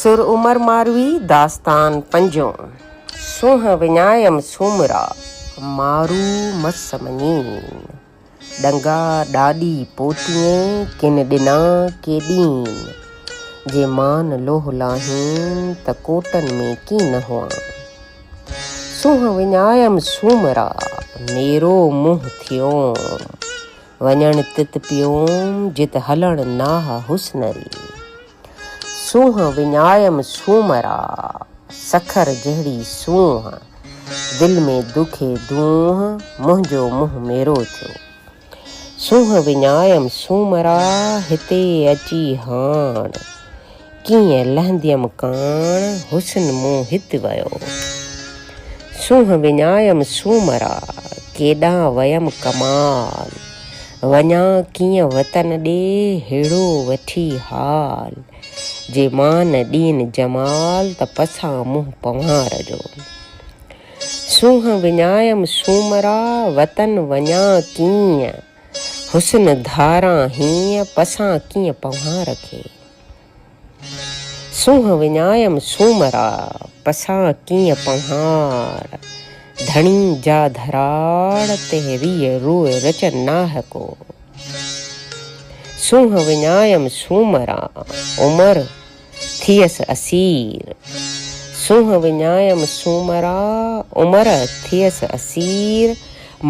سر عمر ماروي داستان پنجون، سونهن وڃايم سومرا، مارو مس مڃين، ڏنگا ڏاڏي پوتيئين، ڪن ڏنا ڪي ڏين، جي مان لوهه لاهين، ته ڪوٽن ۾ ڪين نه هئان. سونهن وڃايم سومرا، ميرو منهن ٿيوم. وڃڻ تت پيوم جت هلڻ ناهه حسن ري. سونهن وڃايم سومرا سکر جهڙي سونهن. دل ۾ دکي دونهن منهنجو منهن ميرو ٿيو. سونهن وڃايم سومرا هتي اچي هاڻ. ڪيئن لهنديم ڪاڻ حسن مون هت ويو. سونهن وڃايم سومرا ڪيڏانهن ويم ڪمال. وڃان ڪيئن وطن ڏي هيڙو وٺي حال. جي مان ڏين جمال ته پسان منهن پنهار جو. سونهن وڃايم سومرا وطن وڃان ڪيئن. حسن ڌاران هينء پسان ڪيئن پنهار کي. سونهن وڃايم سومرا پسان ڪيئن پنهار. ڌڻي جا ڌراڙ تي ريء روء رچن ناهه ڪو. سونهن وڃايم سومرا عمر ٿيس اسير سونهن وڃايم سومرا عمر ٿيس اسير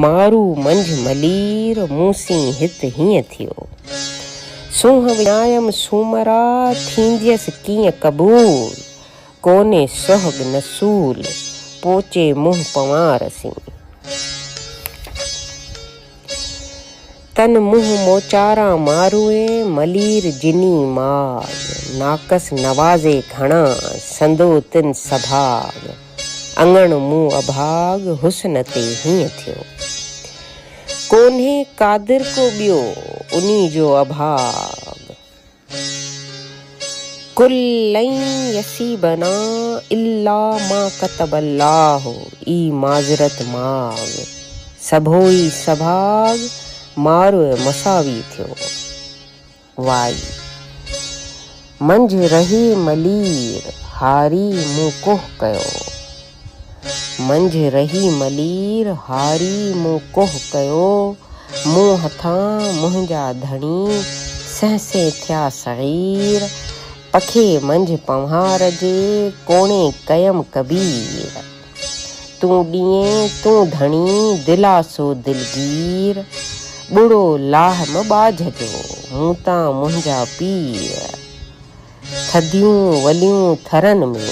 مارو منجهه ملير مون سين هت هيئن ٿيو سونهن وڃايم سومرا ٿينديس ڪيئن قبول ڪونهي سهڳ نه سول پوچي منهن پنوار سين. تن منهن موچاران ماروئي، ملير جني ماڳ. ناقص نوازي گهڻا، سندو تن سڀاڳ. اڱڻ مون اڀاڳ، حسن تي هيئن ٿيو. ڪونهي قادر ڪو ٻيو، انهي جو اڀاڳ. قل لن يصيبنا الا ما ڪتب الله ئي معذرت ماڳ سڀوئي سڀاڳ ماروء مساوي ٿيو وائي منجهه رهي ملير هاري مون ڪوهه ڪيو. منجهه رهي ملير هاري مون ڪوهه ڪيو، مون هٿان منهنجا ڌڻي سهسي ٿيا صغير، پکي منجهه پنهار جي ڪوڻي ڪيم ڪبير، تون ڏيئين تون ڌڻي دلاسو دلگير، ٻڙو لاهه م ٻاجهه جو مون تان منهنجا پير. ٿڌيون وليون ٿرن ۾،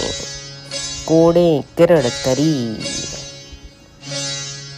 ڪوڙين ڪرڙ تري.